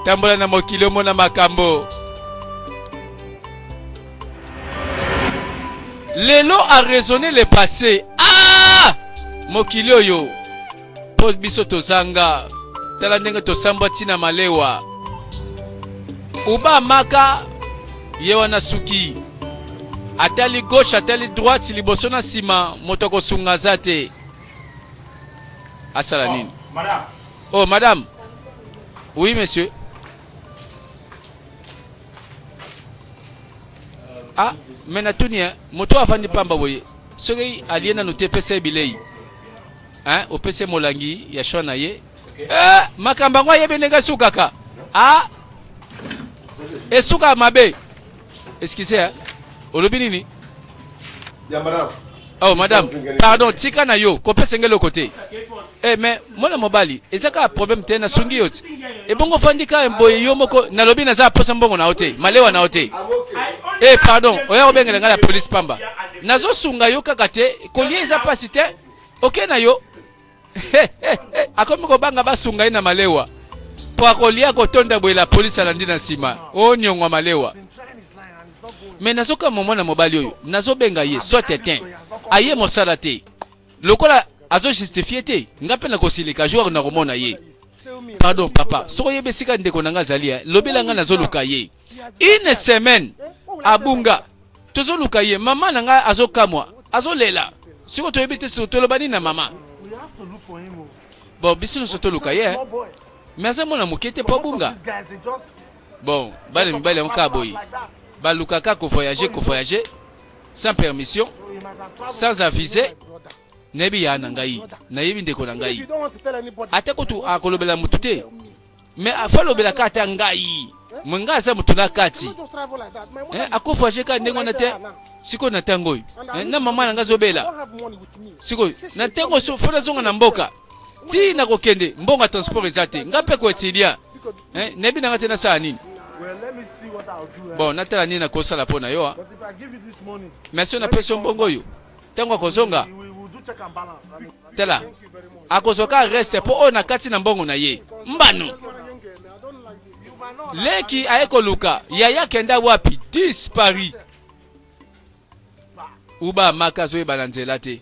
tambola na mokili omona makambo lelo a raisonner le passé ah mokili oyo mpo biso tozanga tala ndenge tosambwa ntina malewa uba maka ye wana suki Atali gauche, atali droite, liboso na sima, moto akosunga aza te. Asala oh, nini? Madame. Oh, madame. Oui, monsieur. Ah, mais natuni, hein. Moto afandi pamba boye. Soki aliye nanu te pesa bilei. Hein, opese molangi ya shwa na ye. Eh, makambo yango ayebi ndenge esukaka. Ah, esuka mabe. Excusez, hein? olobi nini? Ya madame. Oh madame, pardon, tika na yo, kope sengelo kote. Eh mais mwana mobali, eza kaka problème te na sungi yo. Ebongo fandi ka mboye yo moko nalobi naza posa mbongo na ote, malewa na ote. Eh pardon, oya obengela nga la police pamba. Nazo sunga yo kaka te, kolie eza pasi te. Okay na yo, akomi kobanga basunga ye na malewa mpo akolia kotonda boye la polisi alandi na nsima onyongwa malewa me nazokamwa mwana mobali oyo nazobenga ye soit etin aye mosala te lokola azojustifie te ngai mpe nakosilika jour nakomona ye pardon papa soki oyebi esika ndeko na ngai azali eh, lobela ngai nazoluka ye une semaine abunga tozoluka ye mama na ngai azokamwa azolela siko toyebi te toloba nini na mama bon biso nyonso toluka ye mais aza mwana moke te mpo abunga bon bana mibali yango kaka boye balukaka kovoyage kovoyage sans permission sans avise nayebi ya na ngai nayebi ndeko na ngai ata kutu akolobela motu te me afa alobelaka ata ngai mwe ngai aza moto na kati eh, akufa je kaka ndenge wana te sikoyo na ntango oyo eh, na mama na ngai azobela sikoyo na ntango oyo fo nazonga na mboka ti na kokende mbongo ya transport eza te ngai mpe koetilia eh, nayebi na ngai te nasala nini bon natala nini nakosala mpo na yo ah. mais soki napesi yo mbongo oyo ntango akozonga tala akozwa ka reste mpo oyo nakati na mbongo na ye mbano leki aye koluka yaya kenda wapi dispari uba maka azoyeba na nzela te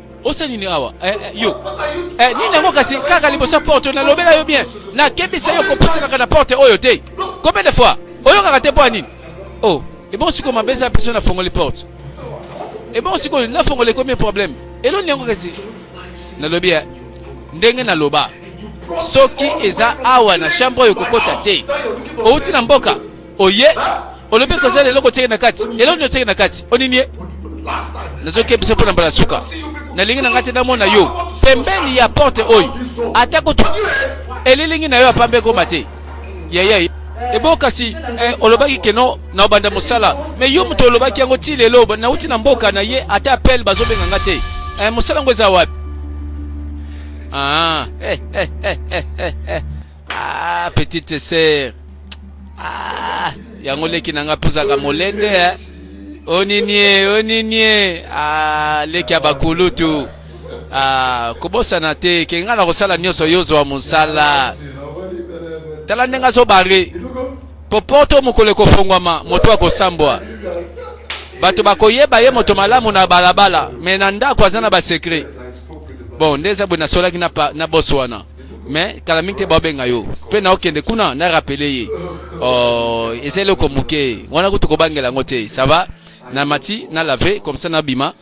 osa nini awa eh, eh, yo eh, nini yango kasi kaka liboso ya porte nalobela yo bien nakebisa yo kopusanaka na porte oyo te combien de fois oyokaka te mpo ya nini o oh, ebongo sikoyo mabe eza biso nafongoli porte ebongo sikoyo nafongoli ekomi problème eloni yango kasi nalobi ya ndenge naloba soki eza awa na chambre oyo kokota te outi na mboka oye olobi ekozala eloko otyeke na kati eloko nini otyeke na kati onini ye nazokebisa mpo na mbala suka nalingi na ngai te namona yo pembeni ya porte oyo ata kutu elilingi na yo ya pamba ekoma te yaya ebo kasi eh, olobaki keno na obanda mosala me yo moto olobaki yango ti lelo nauti na mboka na ye ata apele bazobenga nga te eh, mosala yango eza wapi ah, eh, eh, eh, eh, eh, eh. Ah, petite sœur. Ah, yango leki na nga puzaka molende eh. Oninie, oninie. Ah, leki ya bakulutu. Ah, kobosana te ke nga na kosala nyonso yo zwa mosala. Tala ndenge azobare. Po poto mokolo ekofongwama, moto akosambwa. Bato bakoyeba ye moto malamu na balabala, me na ndako aza na basekre. Bon, nde eza boye nasolaki na, pa- na boso wana. mais kala mingi te baobenga yo mpe na okende kuna na rapele ye oh, eza eloko moke wana kutu kobangela yango te sava na mati na lave comme ça nabima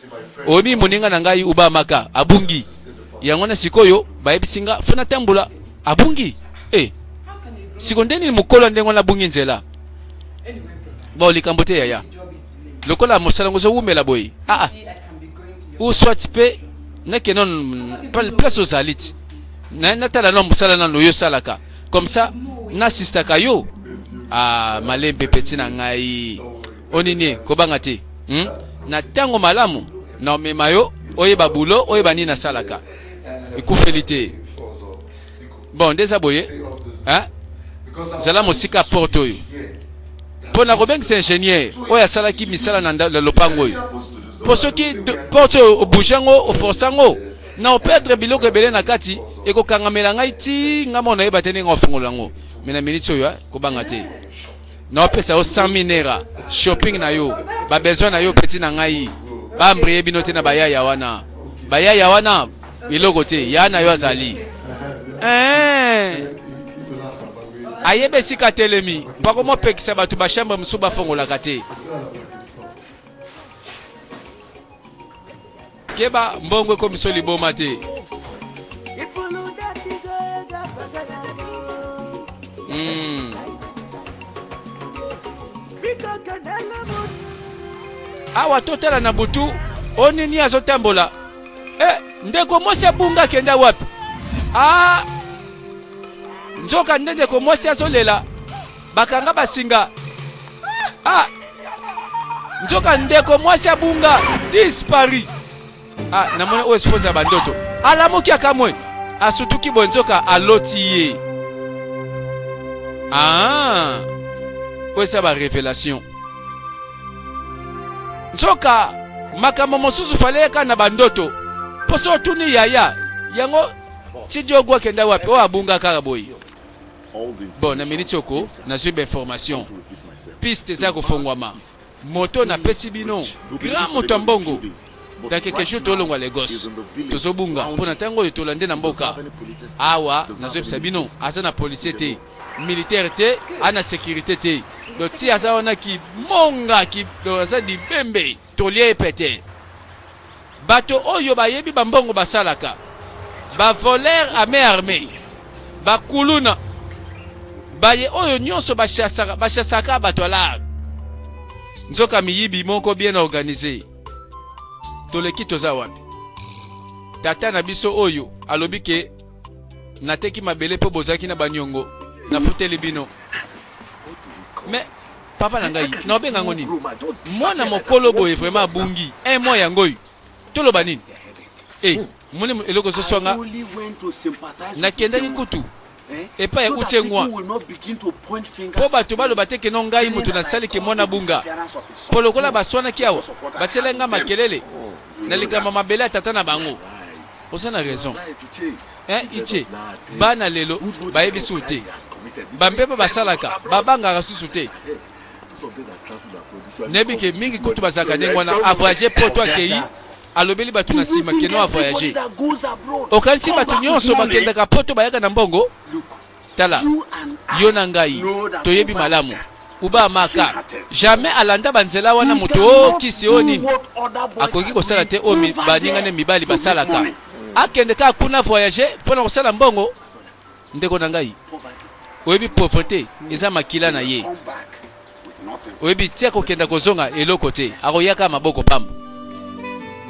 oyebi moninga na ngai uba maka abungi yango na sikoyo bayebisi nga fo natambola abungi e eh, siko nde nini mokolo ndenge wana abungi nzela bao likambo te yaya lokola mosala yango ezowumela boye aa ah, ah. ou soit mpe nake non place ozali ti natala no mosala nano oyo osalaka comme ça nasistaka yo ah, malembe peti na ngai onini kobanga te hmm? na ntango malamu na omema yo oyeba bulo oyeba nini nasalaka ekufeli te bon nde eza boye zala mosika ya porte oyo mpo na kobengisa ingénieur oyo asalaki misala na lopango oyo mpo soki porte oyo obouge yango oforce yango na operdre biloko ebele na kati ekokangamela ngai ti ngai mona yeba te ndenge ofungola yango me na miniti oyo kobanga te na opesa yo 100 000 naira shopping na yo ba besoin na yo petit na ngai ba mbriye bino te na bayaya wana bayaya wana eloko te ya na yo azali eh ayebe esika atelemi bako mopekisa bato ba chambre mosusu bafongolaka te Keba mbongo ekomiso liboma te. Mm. Awa totala na butu onini azotambola eh, ndeko mwasi abunga akenda wapi ah, nzoka nde ndeko mwasi azolela Bakanga basinga. Ah! Nzoka ndeko mwasi abunga dispari. Ah, namoni oyo esposa ya bandoto. Alamuki akamwe. Asutuki boye nzoka aloti ye. Ah! Oyo esa ba revelation. Nzoka makambo mosusu faleyaka na bandoto. Poso otuni yaya yango Chidiogo akenda wapi? Oyo abunga kaka boye. Bon, na minute oko, nazui ba information. Piste eza kofongwama. Moto na pesi bino, grand moto ya mbongo. Dans quelques jours tolongwa Lagos. Tozobunga mpo na ntango oyo tolande na mboka. Awa nazoyebisa bino, aza na policier te, militaire te, ana securite te. Donc ti aza wana ki monga ki aza libembe. Toli eye petee. Bato oyo bayebi ba mbongo basalaka. Ba voleurs à main armee. Ba kuluna. Baye oyo nionso ba chassaka, ba chassaka ba dollars. Nzoka miyibi moko bien organiser. Toleki toza wapi? Tata na biso oyo alobi ke nateki mabele po bozalaki na ba niongo. Nafuteli bino. Mais Papa na ngai nao benga yango nini? Mwana mokolo boye vraiment abungi un mois yango oyo toloba nini? Eh, moni eloko ezo swa nga nakendaki kutu epai ya utie ngwa mpo bato baloba te keno ngai moto nasali ke mwana bunga mpo lokola baswanaki awa batielai ngai makelele na likambo mabele ya tata na bango oza na raison Hein Ice, bana lelo bayebi susu te. Ba mpepo basalaka, babangaka susu te. Nayebi ke mingi kutu bazalaka ndenge wana, avoyage poto akeyi alobeli bato na nsima keno avoyage. Okanisi bato nyonso bakendaka poto bayaka na mbongo? Tala, yo na ngai toyebi malamu Uba Maka jamais alanda banzela wana moto o oh, kisi o oh, nini akoki kosala te oyo oh, baningane mibali basalaka akende kaka kuna voyage mpo na kosala mbongo ndeko na ngai oyebi pauvreté eza makila na ye oyebi ti akokenda kozonga eloko te akoyaka maboko pamba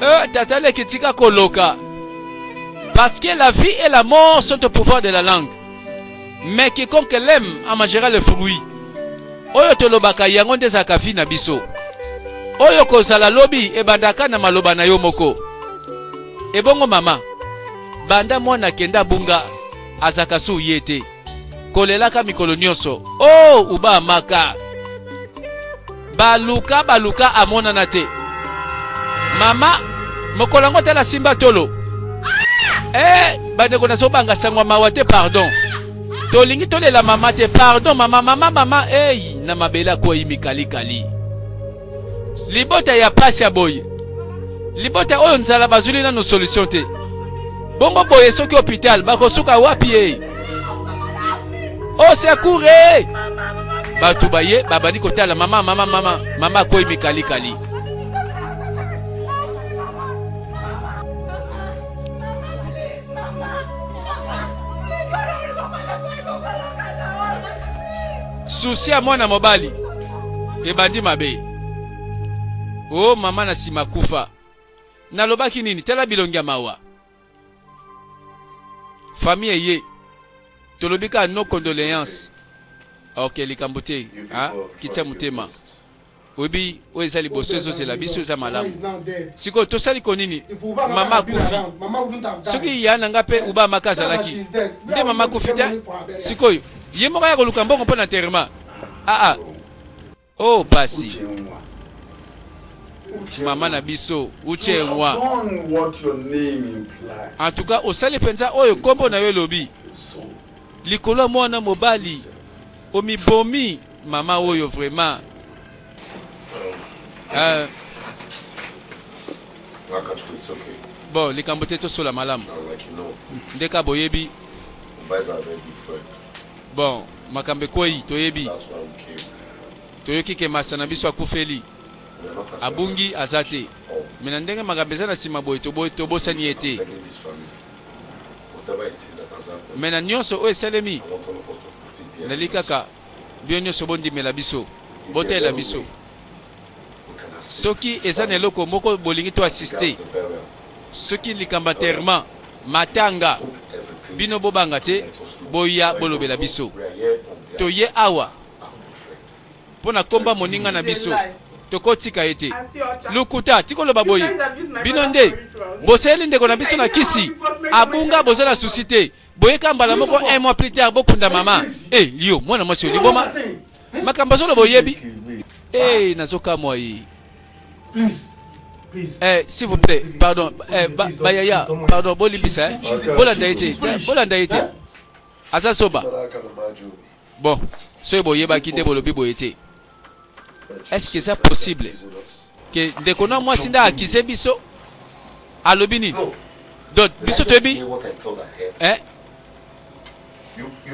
euh, tata leki tika koloka parce que la vie et la mort sont au pouvoir de la langue mais quiconque l'aime en mangera le fruit oyo tolobaka yango nde ezalaka vie na biso oyo kozala lobi ebandaka na maloba na yo moko ebongo mama banda mwana akenda abunga azaka su ye te kolelaka mikolo nyonso o oh, uba maka baluka baluka amonana te mama mokolo yango tala simba tolo eh, bandeko nazobanga sangwa mawa te pardon tolingi tolela mama te pardon mama mama mama eyi na mabele akwei mikalikali libota ya pasi ya boye libota oyo nzala bazwili nano solution te bongo boye soki hopital bakosuka wapi ye osekure bato baye babandi kotala mama mama mama mama akwei mikalikali Susi ya mwana mobali ebandi mabe. O oh, mama na nsima kufa. Nalobaki nini? Tala bilongi ya mawa. Famille eye tolobi kaka no condoleance. Ok, likambo te. Ah, kitisa motema. oyebi oyo eza liboso ezozela biso eza malamu sikoyo tosali ko nini mama akufi soki ya na nga mpe uba maka azalaki nde mama akufi te sikoyo ye moko ya koluka mbongo mpo na terema aa ah, ah. o oh, pasi mama na biso uche nwa en tout cas osali mpenza oyo nkombo na yo elobi likolo ya mwana mobali omibomi Mama oyo vraiment euh, bon likambo te tosola malamu ndeka boyebi bon makambo ekwei toyebi toyoki ke masa na biso akufeli abungi aza te oh. me na ndenge makambo eza na nsima boye tobosani ye te me na nyonso oyo esalemi nali kaka bino nyonso bondimela biso, botalela biso. Soki eza na eloko moko bolingi to assiste, soki likambo enterrement, matanga, bino bobanga te, boya bolobela biso. Toye awa mpo na komba moninga na biso tokotika ye te. Lokuta tikoloba boye, bino nde bosaleli ndeko na biso na kisi abunga, boza na susi te. boyeka mbala moko un mois plus tard bokunda mama e eh, yo mwana mwasi oliboma makambo azoloba oyebi e eh, nazokamwa ye Eh, s'il vous plaît, pardon, eh, ba, Bayaya, pardon, Bolibisa, hein. Bolanda été, Bolanda été. Azasoba. Bon, ce boye bakite bolobi boye été. Est-ce que eza possible que ndeko na mwasi nde akize biso alobi nini donc biso toyebi eh?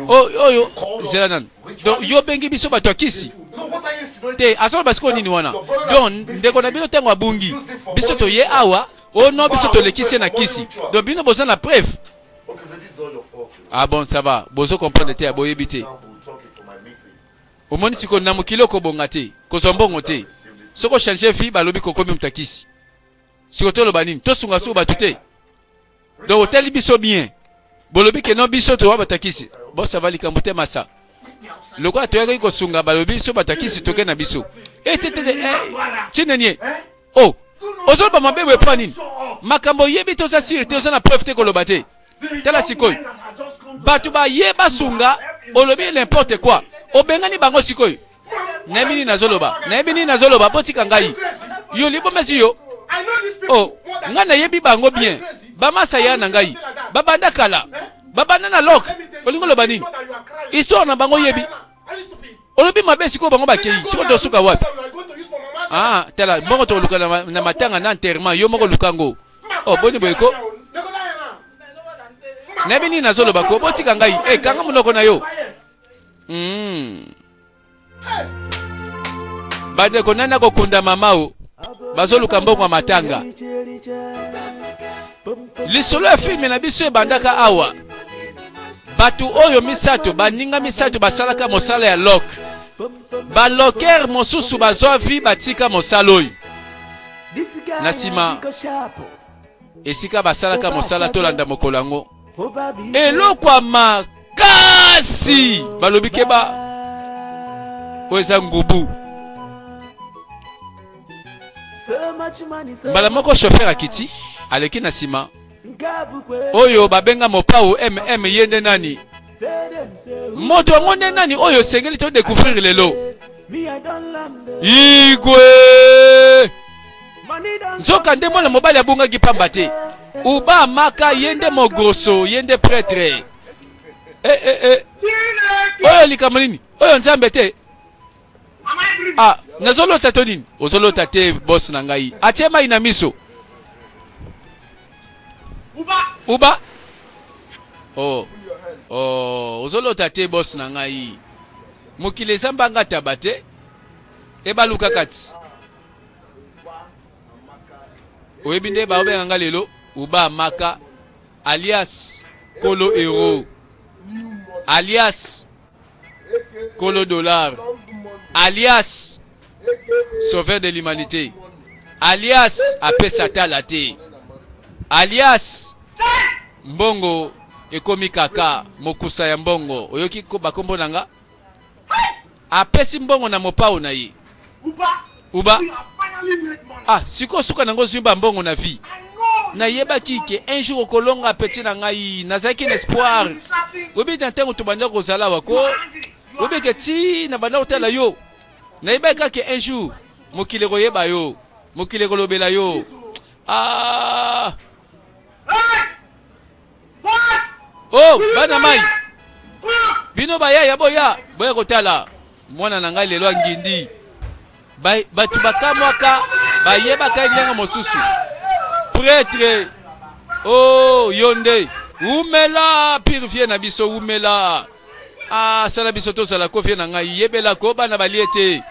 oyo zela nanu donc yo obengi biso bato ya kisi te azoloba sikoyo nini wana donc ndeko na bino ntango abungi biso toye awa o no biso tolekisi ye na kisi donc bino boza na preuve ah bon ça va bozo comprendre te ya boyebi te Omoni sikoyo na mokili oko bonga te kozwa mbongo te soki o changer vie ba lobi kokomi mutu ya kisi sikoyo toloba nini tosunga suku batu te donc otali biso bien bolobi ke non biso towa batu ya kisi bon ça va likambo te masa lokola toyaki kosunga balobi biso batu ya kisi toke na biso eh te te te eh chinenie oh ozoloba mabe boye mpo nini makambo oyebi te oza sire te oza na preuve te koloba te tala sikoyo bato baye basunga olobi n'importe quoi obengani bango sikoyo nayebi nini nazoloba nayebi nini nazoloba botika ngai yo libomesi yo o oh, ngai nayebi bango bien bamasaya na ngai babanda kala babanda na lok olingi oloba nini histoire na bango yebi olobi mabe sikoyo bango bakei sikoyo tosuka wapi ah tala mbongo tokoluka na matanga na enterrement yo moko luka ngo oh boni boye ko nayebi nini nazoloba ko botika ngai e kanga monoko na yo hmm. bandeko nani akokunda mama o bazoluka mbongo ya matanga lisolo ya filme na biso ebandaka awa bato oyo misato baninga misato basalaka mosala ya lok balokere mosusu bazwa vi batika mosala oyo Na nsima, esika basalaka mosala, tolanda mokolo yango, eloko ya makasi balobi keba, oyo eza ngubu. Mbala moko shofer akiti, aleki na nsima, oyo babenga mopao mm ye nde nani moto yango nde nani oyo osengeli to découvrir lelo igwe nzoka nde mwana mobali abungaki pamba te uba amaka ye nde mogroso ye nde pretre eh, eh, eh. oyo likambo nini oyo nzambe te ah nazolota to nini ozolota te boss na ngai atie mai na miso uba uba oh oh ozolota te boss na ngai mokili eza mbanga taba te ebaluka kati oyebi nde baobenga nga lelo uba maka alias kolo hero alias Kolo Dollar, alias Sauveur de l'Humanité, alias apesa tala te, alias mbongo ekomi kaka mokusa ya mbongo. Oyoki bakombo na nga? Apesi mbongo na mopao na ye. uba ah siko suka nango zwi ba mbongo na vie nayebaki ke un jour okolonga peti na ngai nazalaki na espoir oyebi na ntango tobanda kozala wako oyebi ke ti na banda kotala yo nayebaki kaka un jour mokili ekoyeba yo mokili ekolobela yo ah Oh, bana mai bino bayaya boya boya kotala mwana na ngai lelo angindi bato bakamwaka bayebaka ye ndenge mosusu pretre o oh, yo nde wumela purifie na biso wumela asala ah, biso tozala ko vie na ngai yebela ko bana balie te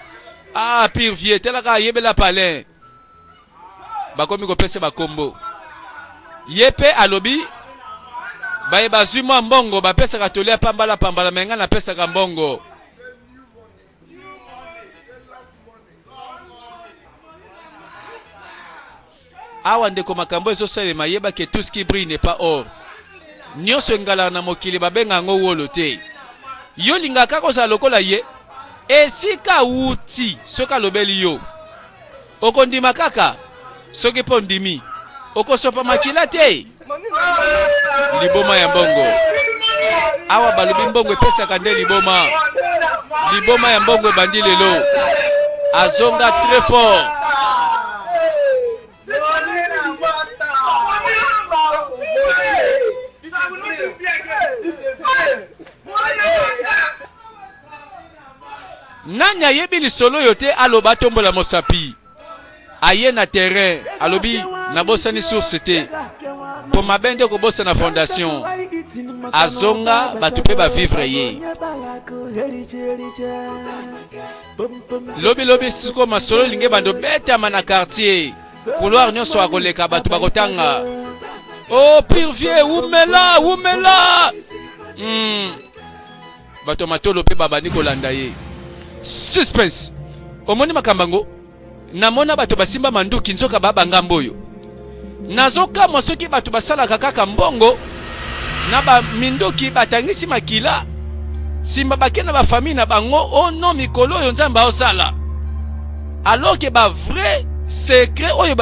ah purifie talaka yebela palin bakomi kopesa bakombo ye mpe alobi baye bazwi mwa mbongo bapesaka toli ya pambala pambala me ngai napesaka mbongo awa ndeko makambo ezosalema yeba ke tout ce qui brille n'est pas or nyonso engalaka na mokili babenga yango wolo te yo olingaka kozala lokola ye esika awuti soki alobeli yo Okondima kaka soki mpo ndimi. Okosopa makila te. Liboma ya mbongo. Awa balobi mbongo epesaka nde liboma. Liboma ya mbongo ebandi lelo. Azonga très fort. Nani ayebi lisolo oyo te aloba tombola mosapi aye na terrain alobi nabosani source te mpo mabe nde kobosana fondation azonga bato mpe bavivre ye lobilobi siko masolo elingi ebanda obetama na quartier couloir nyonso akoleka bato bakotanga o oh, pire vie wumela wumela mm. bato ya matolo mpe babandi kolanda ye. Suspense! Omoni makambo yango? Namona bato basimba manduki nzoka baba ngambo oyo. Nazokamwa soki bato basalaka kaka mbongo na ba minduki batangisi makila simba bake na bafamille na bango o no mikolo oyo nzambe aosala alors ke ba vrai secret oyo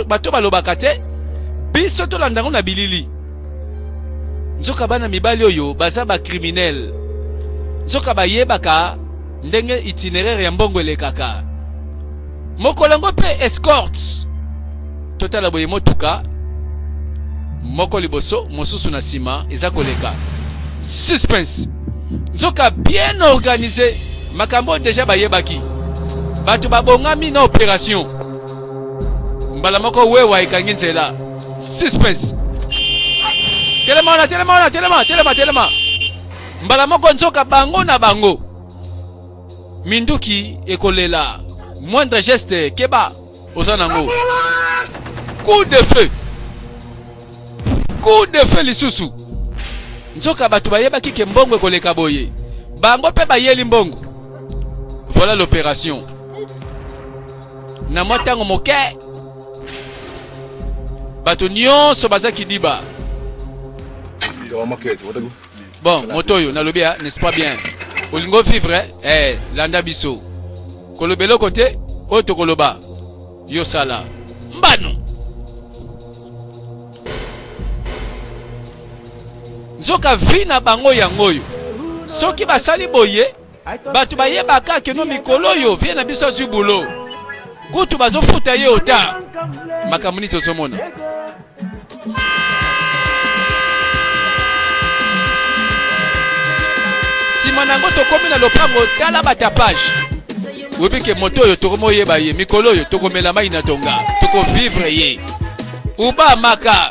bato balobaka te biso tolanda yango na bilili nzoka bana mibali oyo baza ba criminel nzoka bayebaka ndenge itineraire ya mbongo elekaka mokolo yango mpe escorte totala boye motuka moko liboso mosusu na nsima eza koleka suspense nzoka bien organise makambo oyo deja bayebaki bato babongami na operation mbala moko wewa ekangi nzela suspense telema wana telema wana telema telema telema mbala moko nzoka bango na bango minduki ekolela moindre geste keba oza nango coup de feu coup de feu lisusu nzoka bato bayebaki ke mbongo ekoleka boye bango mpe bayeli mbongo voilà l'opération na mwa ntango moke bato nyonso baza kidiba bon moto oyo nalobi ya n'est-ce pas bien olingi ovivre eh? eh, landa biso koloba eloko te oyo tokoloba yo sala mbano nzoka vi na bango yango oyo soki basali boye Batu bayeba ka que no mikolo oyo vie na biso azwi boulot. Kutu bazofuta ye ota. Makambo nini tozomona? Sima na yango tokomi na lopango tala batapage. Oyebi ke moto oyo tokomoyeba ye mikolo oyo tokomela mai na tonga, tokovivre ye. Uba maka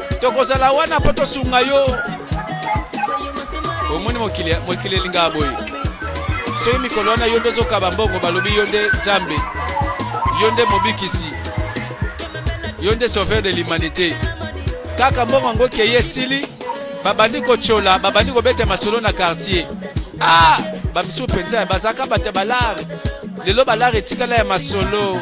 tokozala wana mpo tosunga yo omoni mokili mokili elingaka boye soki mikolo wana yo nde ozokaba mbongo balobi yo nde nzambe yo nde mobikisi yo nde sauveur de l'humanité kaka mbongo yango keye esili babandi kotyola babandi kobeta masolo na quartier ah bamisusu mpenza bazalaka bato ya balare lelo balare etikala ya masolo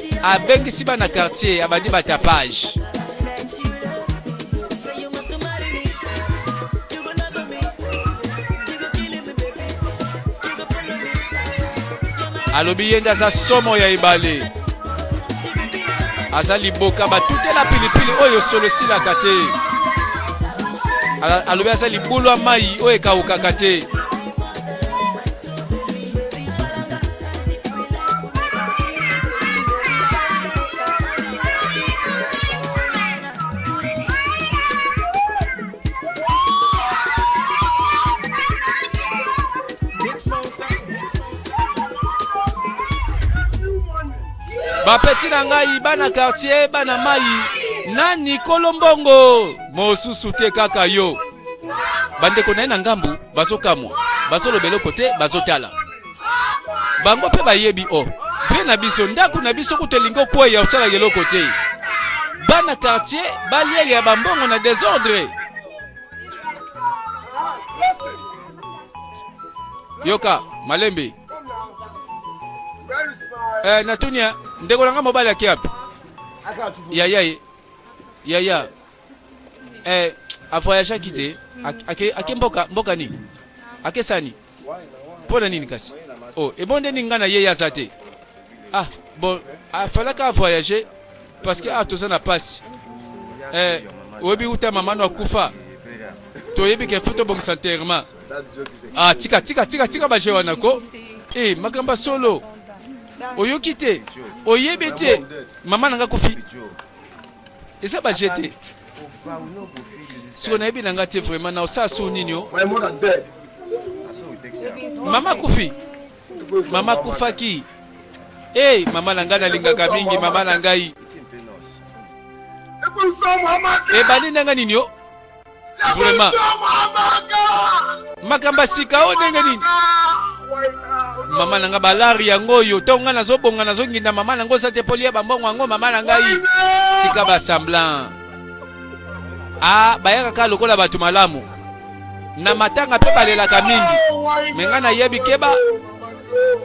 abengisi bana quartier abandi batapage alobi ye nde aza somo ya ebale aza liboka batutela pilipili oyo solo esilaka te alobi aza libulu ya mai oyo ekawukaka te bapeti na ngai bana kartier bana mai nani kolombongo mosusu te kaka yo bandeko na ye na ngambu bazokamwa bazoloba eloko te bazotala bango mpe bayebi o oh, vie na biso ndako na biso kutu elingi okweya osalaka eloko te bana quartier balieli ya bambongo na desordre yoka malembe eh, natunia ndeko na ngai mobali akiapi yaya ye yaya eh, avoyageaki te ake, ake mboka, mboka nini akesani mpo na nini kasi o oh, ebondeli ngai na ye ye aza te ah bon afalaka avoyage parce que ah toza na mpasi eh, oyebi uta mama no akufa toyebi ke fo tobongisa nterrement ah tika tika tika tika baje wana ko e makambo ya solo oyoki te oyebi te mama na ngai akufi eza ba jeu te siko nayebi na nga te vraiment na osala so nini o mama kufi mama kufaki hey, mama na ngai nalingaka mingi mama na ngai ebandi na ngai nini o vraiment makambo ya sika oyo ndenge nini mama na nga balari yango oyo ntongo ngai nazobonga nazonginda mama na ngo oza te mpo liya bambongo yango mama na ngai tika basemblant a ah, bayaka kaka lokola bato malamu na matanga mpe balelaka mingi me ngai nayebi keba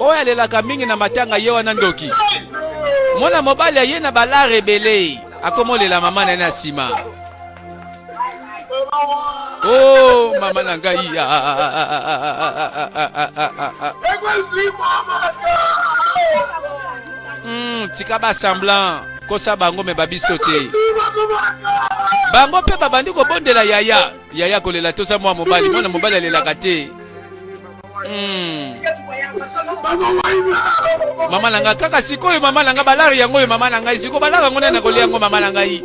oyo alelaka mingi na matanga ye wana ndoki mwana mobali aye na balare ebele akomolela mama na ye na nsima Oh, mama na ngai ya. Hmm, tika ba semblant kosa bango me babiso te bango mpe babandi kobondela yaya yaya kolela toza mwa mobali mwana mobali alelaka te hmm. mama na ngai kaka sikoyo mama na ngai balari yango oyo mama na ngai sikoyo balari yango nani nakolia yango mama na ngai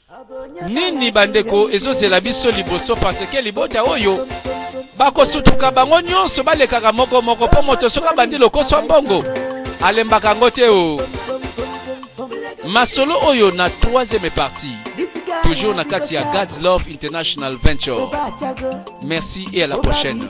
Nini bandeko ezozela biso liboso parce que libota oyo bakosutuka bango nyonso balekaka moko moko mpo moto soki abandi lokoso ya mbongo alembaka yango te o oh. masolo oyo na troisième partie toujours na kati ya God's Love International Venture merci et à la prochaine